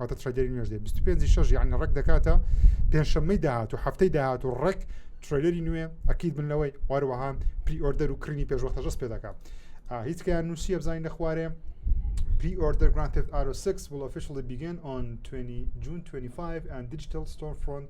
واتە ترەیدەری نوێژ دێ 25 شش یعنی ڕێک دەکاتە پێنجشەممەی داهات و هەفتەی داهات و ڕێک ترەیلەری نوێ ئەکییت بن لەوەی واروەها پری ئۆردەر و کڕینی پێشوەختەژەست پێ دەکات هیچکەیان نووسیە بزانین لە خوارێ پری ئۆردەر گرانتێت ئارۆ سکس وڵ فشڵی بیگەن ئۆن 20 جون 25 ئەند دیجیتل ستۆر فرۆنت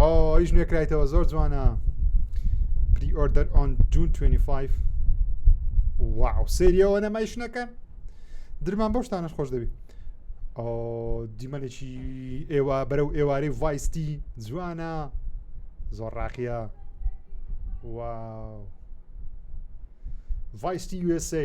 ئەویش نوێکرایتەوە زۆر جوانە پری ئۆردەر ئۆن جون 25 واو سریەوە نەمایش نەکەن درمان بەو شتانش خۆش دەبی دیمەنێکی ئێوە بەرە و ئێوارەی ڤایستی جوانە زۆر ڕاقیە واو ڤایستی USA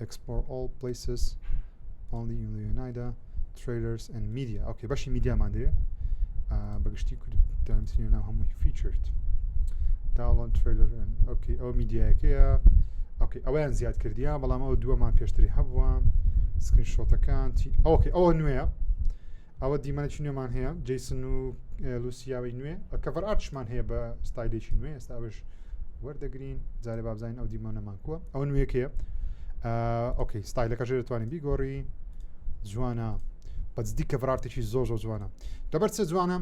Explore all places only in the United trailers and media ئەوکە بەشی میدیامان دەوێ بەگشتی کوردستانی ناو هەمووی فیچرت داڵۆن ترلر ئۆکی ئەو میدیایەکەیە ئۆکی ئەویان زیاد کردیان بەڵام ئەو دووەمان پێشتری هەبووە سکرین شۆتەکان چی ئەوکە ئەوە نوێە ئەوە دیمەنێکی نوێمان هەیە جیسن و لوسیاوی نوێ بە کەڤەر ئارتشمان هەیە بە ستایلێکی نوێ ئێستا ئەوش وەردەگرین جارێ بابزین ئەو دیمەنەمان کووە ئەو نوێکەیە ئۆکەی ستایلەکە ژێ دەتوانین بیگۆڕی جوانە بەجددی کەڤڕارتێکی زۆر زۆر جوانە دەبەر چە جوانە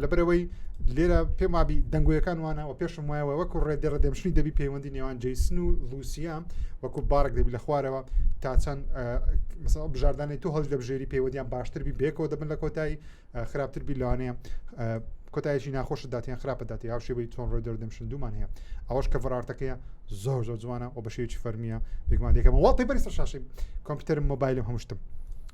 لەبەرەوەی لێرە پێم وابی دەنگۆیەکان وانەوە پێشم وایەوە وەکو ڕێدێ ڕدەمشنی دەبی پەیوەندی نێوان جیسن و روسیا وەکو بارک دەبی لە خوارەوە تا چەند مثلا بژاردانی تو هەڵ دەبژێری پێوەدیان باشتر بی بێکەوە دەبن لە کۆتایی خراپتر بی لەوانەیە کۆتایشی ناخۆش داتیان خراپە داتی هاو شێوەی چۆن ڕۆی دەردەم شندومان هەیە ئەوەش کە فڕارتەکەیە زۆر زۆر جوانە و بە شێوی فەرمیە بێگومان دەکەمە وڵاتی بەری سەر شاشی کۆمپیوتەر مۆبایلم هەمشتم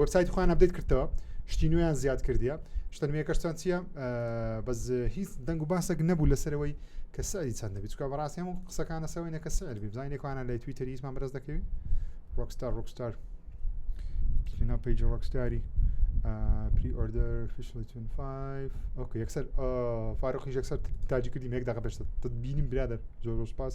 وەبسایتی خۆیان ئەبدەیت کردەوە شتی نوێیان زیاد کردیە شتە نوێەکەشتان چییە بەس هیچ دەنگ و باسێک نەبوو لەسەرەوەی کە سەری چەندە بچکە بەڕاستیم و قسەکانە سەوەینە کە سەر بزانێکوانە لە توی تەریزمان بەرز دەکەوی ڕۆکستار ڕۆکستار نا پیج ڕۆکستاری پری ئۆردەر فیشلتون 5 ئۆکە یەکسەر فارۆخیش یەکسەر تاجی کردی مێک داقە پێشتە بینیم برادر زۆر سپاس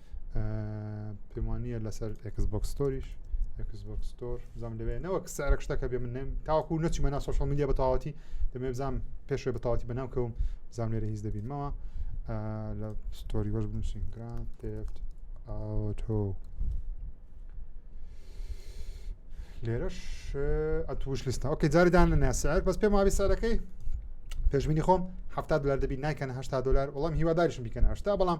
پێم وانە لەسەر ئەکس بۆکس ستۆریش ئەکس بۆکس ستۆر بزانم لەوێ نەوە سعرە شتەکە بێ من تاوەکو نەچمە نا سوۆشڵ میدیا بە تەواوەتی دەمێ بزانام پێشێ بە تەواتی بەناو کەوم بزانام لێرە هیچ دەبینمەوە لە ستۆری وەش بنووسین گران تێفت ئەوتۆ لێرەش ئەتوش لیستە ئۆکە جاریدان لە ناسەر بەس پێم وابی سەرەکەی پێشبینی خۆم هەفتا دلار دەبی نایکەن هشتا دلار وڵام هیواداریشم بیکەن هشتا بەڵام